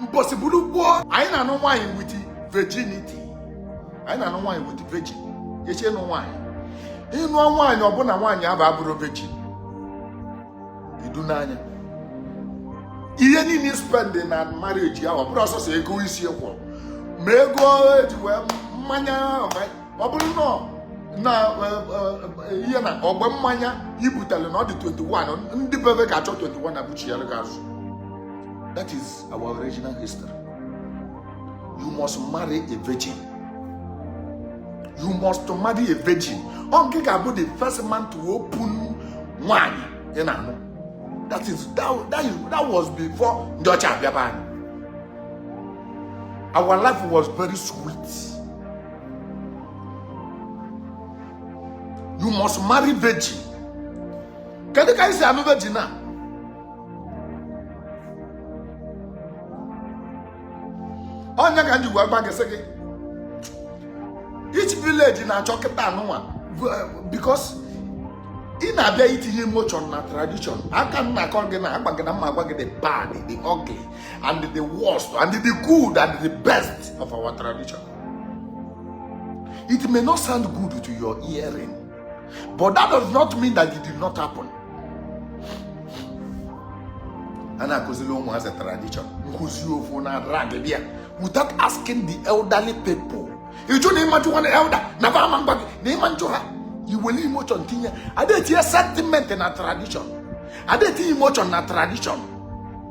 mbọsị bụrụ gboo anyị na-anụ nwaanyị with virginity anyị na-anụ nwaanyị with virgin echi ịnụ nwaanyị ịnụọ nwaanyị ọ bụ na nwaanyị ahụ abụrọ virgin i duna nya ihe niile i spendị na marriage ya ọ bụrọ sọsọ ego isi ị kwụrụ ma ego eji wee mmanya ọ bụrụ na na e, e, e, ihe na ọba mmanya i butele na ọ dị 21 ndị be be ga-achọ 21 ebuchiara gị ya azụ that is our original history you must marry a virgin you must marry a virgin ọ ngị ga-abụ the first man to open nwanyị ị na-anụ that is that, that, is, that was before ndị ọcha abịa be anyị our life was very sweet you must marry virgin kedu ka anyị si anụ virgin a ọ nya ka m ji gwa gị sị gị each village na-achọ kịta anụnwa eh, because ị na-abịa itinye emotion na tradition aka m na-akọ gị na-agwa gị na m ma-agwa gị the bad the ugly and the worst and the good and the best of our tradition It may not sound good to your hearing, but that does not mean that it did not happen. a na-akụziri ụmụazị tradition nkụzi ofu na drag bịa without asking the elderly people ịjụ na ịmajụ nwa na elder na ba ama agwa gị na ị ma-ajụ ha i were emotion tinye ada etinye sentiment na tradition ada etinye emotion na tradition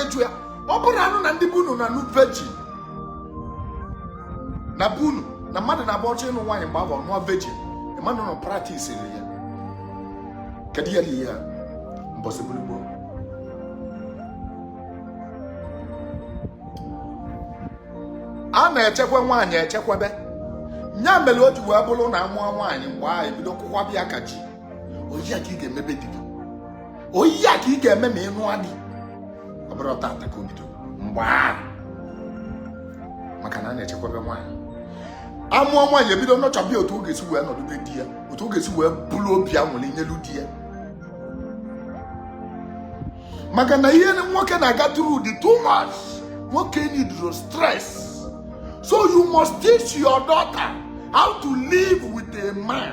ịjụ ya ọ bụrụ anụ na ndị gboo nụ na-anụ virgin na gboo nụ na mmadụ na-agba ọchọ ịnụ nwaanyị mgbe ahụ nụọ virgin mmadụ nọ practice ya kedu ya ihe ya mbọsị bụrụ gboo a na-echekwa nwaanyị echekwebe nya mere o ji wee bụrụ na amụọ nwaanyị mgbe ahụ ebido kwụkwaba ya ka ji ọ ihe a ka ị ga-eme be di gị ọ ihe a ka ị ga-eme ma ị nụọ di ọ bụrụ tata ka o bido mgbe ahụ maka na a na-echekwaba nwaanyị amụọ nwaanyị ebido nurture-ba ya otu ọ ga-esi wee nọdụ be di ya otu ọ ga-esi wee bụrụ obi aṅụrị nyelụ di ya maka na ihe nwoke na-aga through dị too much nwoke needrọ stress so you must teach your daughter how to live with a man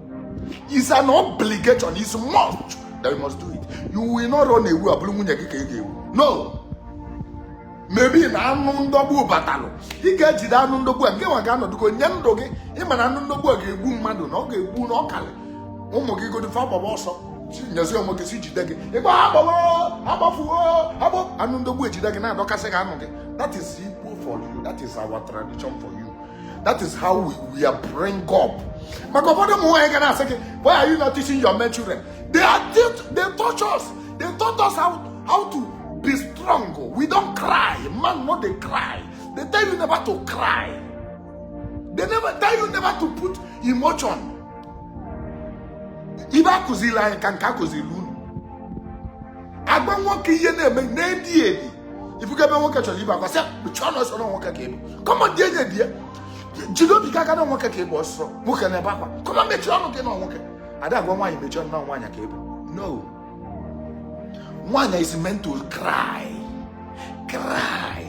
is an obligation is must that you must do it you will not run away ọ bụrụ nwunye gị ka ị ga-ewu no maybe na anụ ndọgbu batalụ ị ga-ejide anụ ndọgbu a ngị nwa ga-anọdụgo nye ndụ gị ị ma na anụ ndọgbu a ga-egbu mmadụ na ọ ga-egbu na ọ karị ụmụ gị godo fa gbaba ọsọ nyezie onwe gị sị jide gị ịgba agbawo agbafuo agbọ anụ ndọgbu ejide gị na-adọkasị gị anụ gị that is Igbo for you that is our tradition for you that is how we, we are bring up maka ụfọdụ ụmụ nwaanyị ga na-asị gị why are you not teaching your men children they are they taught us they taught us how, how to be strong we don't cry man no dey cry they tell you never to cry they never tell you never to put emotion ife a kụziri anyị ka nke a kụziri unu agba nwoke ihe na-eme na-edi edi ị fụga ebe nwoke chọrọ ibe akwa sị kpuchie ọnụ ọsọ na nwoke ka ị bụ come on dị enye di ya jide obi gị aka na nwoke ka ị bụ ọsọ nwoke na-ebe akwa come on mechie ọnụ gị na nwoke a da-agwa nwaanyị mechie ọnụ na nwaanyị ka ị bụ no nwaanyị is meant to cry cry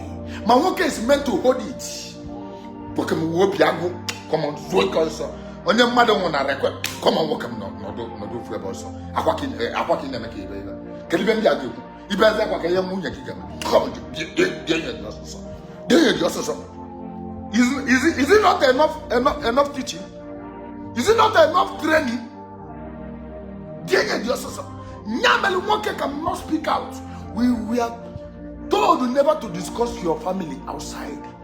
ma nwoke is meant to hold it nwoke m nwee obi agụ come on zuo ike ọsọ onye mmadụ nwụ na-ebe akwa come on nwoke m nọdụ nọdụ ofu ebe ọsọ akwa ka ị na-eme ka ibe ibe kedu ife ndị a ga-ekwu ị bezie akwa kee ihe nwunye gị ga-eme denye gị ọsọsọ is it, is it not enough, enough, enough teaching is it not enough training denye gị ọsọsọ nya mere nwoke cannot speak out we were told never to discuss your family outside